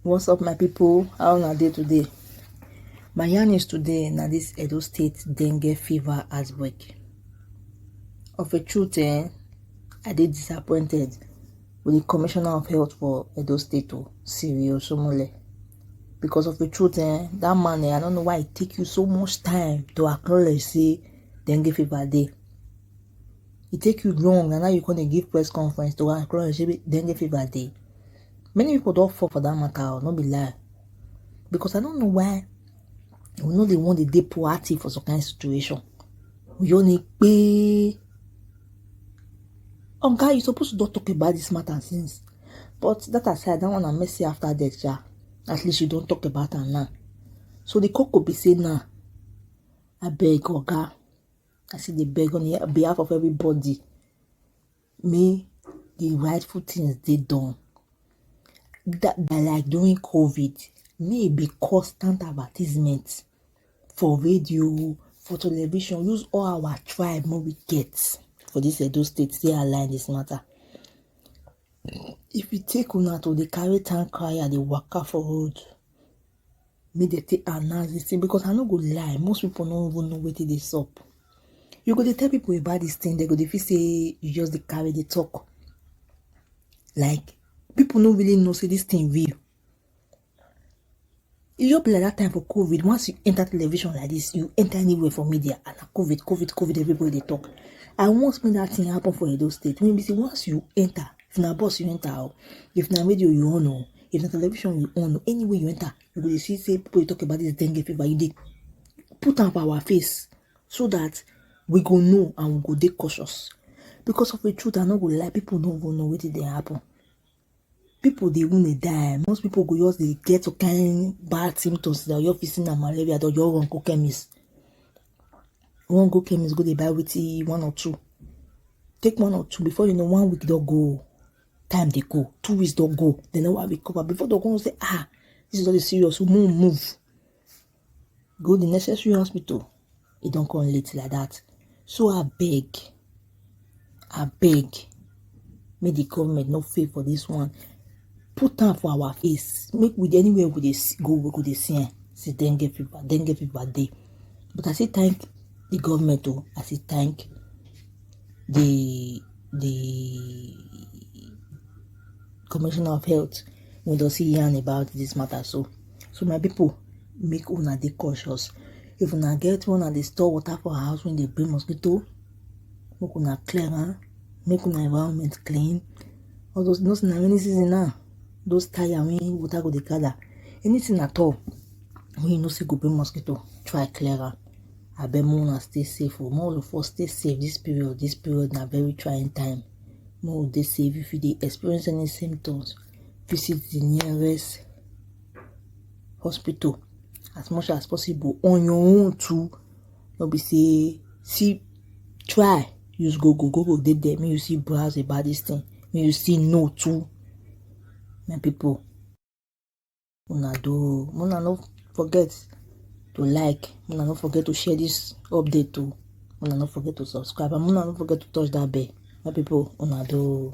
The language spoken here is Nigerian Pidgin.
what's up my people how are they today my yarn is today now this edo state dengue fever outbreak of a truth eh, i did disappointed with the commissioner of health for edo state o oh, siri osomole because of the truth eh that man eh i don't know why it take you so much time to acknowledge say dem give you bad day e take you long and now you come dey give press conference to acknowledge say dem give you bad day many people don fall for that matter o oh, no be lie because i don't know why we no dey wan dey dey proactive for some kind situation we just need pay Oga, you suppose to don talk about this matter since. But that aside, that one na mercy after death, sha. At least you don talk about am now. So the coco be say now, I beg Oga, I say dey beg on the behalf of everybody, may the rightful things dey done. That, that like during COVID, may e be constant advertisement. for radio o, for television, use all our tribe wey we get for dis Edo state take align dis matter. If e take una to dey carry town crier dey waka for road make dem take announce dis thing because I no go lie most people no even know wetin dey sup. You go dey tell people about dis thing dem go dey feel sey you just dey carry dey talk like people no really know sey dis thing real. e just be like that time for covid once you enter television like this you enter anywhere for media and na covid covid covid everybody dey talk i want make that thing happen for edo state wey be say once you enter if na bus you enter o if na radio you on o if na television you on o anywhere you enter you go dey see say people dey talk about this dengue fever you dey put am for our face so that we go know and we go dey cautious because of the truth i no go lie people no go know wetin dey happen people dey even die most people go just dey get some kind bad symptoms that your facing na malaria or your run go chemist run go chemist go dey buy wetin one or two take one or two before you know one week don go time dey go two weeks don go dem never recover before dem come say ah this is all the serious move move go the necessary hospital e don come late like that so abeg abeg make the government no fail for this one put am for our face make we anywhere we dey go we go dey see am say dengue fever dengue fever dey but i say thank the government o oh. i say thank the the commissioner of health we don see yarn about this matter so so my people make una dey cautious if una get one and dey store water for house when they bring mosquito make una clear am make una environment clean all those those na rainy season now those tire wey water go dey gather anything at all wey you know say go bring mosquito try clear am. abeg make una stay safe o make all of us stay safe this period this period na very trying time make we dey safe if you dey experience any symptoms visit the nearest hospital as much as possible on your own too no be say see try use google google dey there make you see browse about this thing make you see know too my people una do o una no forget to like una no forget to share this update o una no forget to subscribe and una no forget to touch that bell my people una do o.